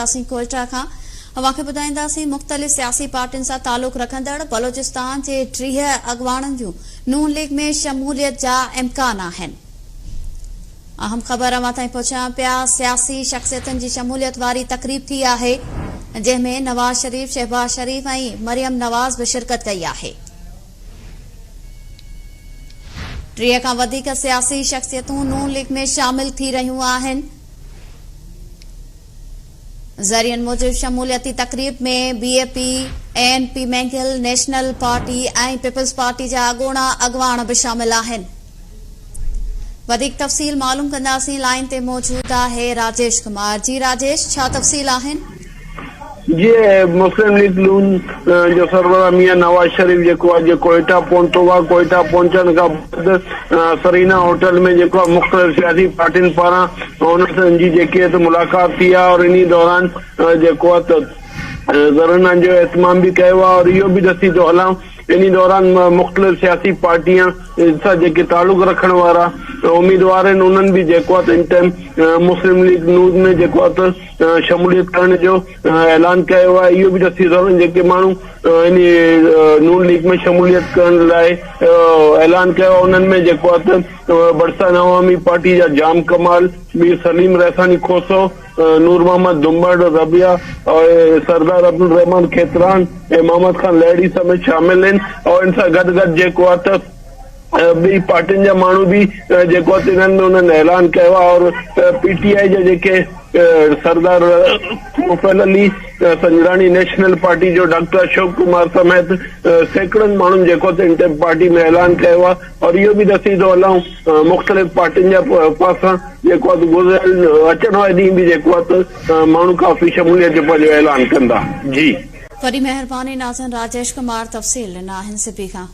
اسين ڪوئيٽا کان اوهان کي ٻڌائينداسين مختلف سياسي پارٽين سان تعلق رکندڙ بلوچستان جي ٽيهه اڳواڻن جون نون ليگ ۾ شموليت جا امڪان آهن اهم خبر اوهان تائين پهچايون پيا سياسي شخصيتن جي شموليت واري تقريب ٿي آهي جنهن ۾ نواز شريف شهباز شريف ۽ مريم نواز به شرڪت ڪئي آهي ٽيهه کان وڌيڪ سياسي شخصيتون نون ليگ ۾ شامل ٿي رهيون آهن ذريعن موجب شموليتي تقريب ۾ B A P, A N P Mengal, national party ۽ people's party جا اڳوڻا اڳواڻ به شامل آهن. وڌيڪ تفصيل معلوم ڪنداسين، لائين تي موجود آهي راجيش ڪمار، جي راجيش ڇا تفصيل آهن؟ جيئي مسلم ليگ نون جو سربراهه ميان نواز شريف جيڪو آهي جي ڪوئيٽا پهتو آهي ڪوئيٽا پهچڻ کان بعد سرينا هوٽل ۾ جيڪو آهي مختلف سياسي پارٽين پاران هن سان جي جيڪي آهي ملاقات ٿي آهي اور انهي دوران جيڪو آهي ڌرڻن جو اهتمام به ڪيو آهي اور اهو به ڏسي ٿو هلان انهي دوران مختلف سياسي پارٽيان سان جيڪي تعلق رکڻ وارا اميدوار آهن انهن به جيڪو آهي ان ٽائيم مسلم ليگ نون ۾ جيڪو آهي شموليت ڪرڻ جو اعلان ڪيو آهي اهو به دسي ٿو جيڪي ماڻهو ان نون ليگ ۾ شموليت ڪرڻ لاء اعلان ڪيو آهي انهن ۾ جيڪو آهي ته برسان عوامي پارٽي جا جام ڪمال مير سليم ريساڻي کوسو نور محمد دنبڙ ربيا سردار عبدالرحمان کيتران ۽ محمد خان لهڙي سميت شامل آهن ان سان گڏ گڏ جيڪو آهي ته ٻئي پارٽين جا ماڻهو به جيڪو آهي تنهن ۾ انهن اعلان ڪيو آهي اور پي ٽي آء جا جيڪي سردار مفعل علي سنجراڻي نيشنل پارٽي جو ڊاڪٽر اشوڪ ڪمار سميت سيڪڙن ماڻهن جيڪو آهي تنهن پارٽي ۾ اعلان ڪيو آهي اور اهو به ڏسي ٿو هلائون مختلف پارٽين جا پاسا جيڪو آهي گذريل اچڻ واري ڏينهن به جيڪو آهي ماڻهو ڪافي شموليت جو پنهنجو اعلان ڪندا جي وڏي مهرباني ناظرين راجيش ڪمار تفصيل ڏنا اين سي پي کان.